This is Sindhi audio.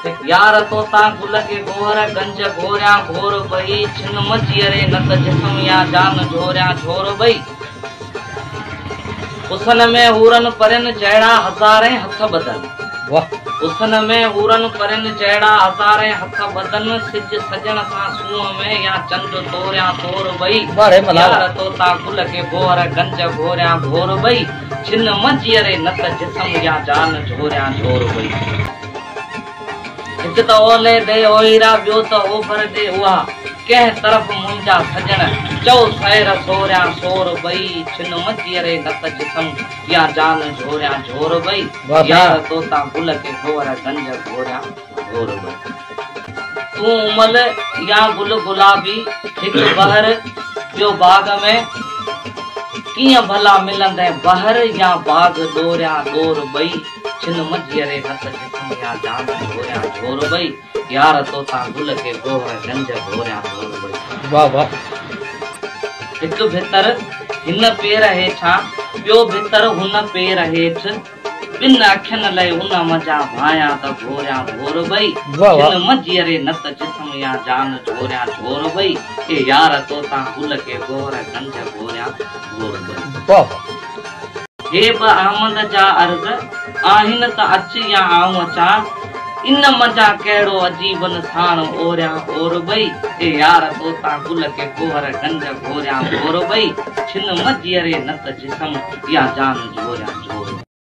هڪ يار تو تان گل کي گوهر گنج گهوريان گهور ٻئي ڇن م جيئري نه ته جسم يا جان جهوريان جهور ٻئي حسن ۾ حورن پرين جهڙا هزارين هٿ ٻڌن حسن ۾ حورن پرين جهڙا هزارين هٿ ٻڌن سج سڄڻ سان سونهن ۾ يا چنڊ توريان تور ٻئي يار تو تان گل کي گوهر گنج گهوريان گهور ٻئي جن م جيئري نه ته جسم يا جان جهوريان جهور هئي. هڪ ته اولهه ڏي اوهيرا ٻيو ته اوڀر ڏي اها ڪنهن طرف منهنجا سڄڻ چئو سير سوريان سور ٻئي جن م جيئري نه ته جسم يا جان جهوريان جهور ٻئي يار توتان گل ڪي گوهر گنج گهوريان گهربو. تون امل يا گل گلابي هڪ بحر ٻيو باغ ۾، ڪيئن ڀلا ملندين بحر يا باغ ڏوريان ڏور ٻئي، ڇن منجهيء ري هٿ جسم يا جان گهريان جهور ٻئي، يار توتان گل کي گوهر گنج گهريان گهور ٻئي. واھ واھ هڪ ڀتر هن پير هيٺان ٻيو ڀتر هن پير هيٺ. ٻن اکين لئه ان منجهان ڀانيان ته ڀوريان ڀور ٻئي جن منجهيء ري نه ته جسم يا جان جهوريان جهور ٻئي اي يار تو تان گل کي گوهر گنج گهوريان گهور ٻئي هي ٻه آمد جا عرض آهن ته اچ يا آئون اچان. ان منجھان ڪهڙو عجيبن ساڻ اوريان اور ٻئي، اي يار تو تان گل ڪي ڪوهر گنج گهوريان گهور ٻئي، ڇن مجيئري نه ته جسم يا جان جهوريان جهور.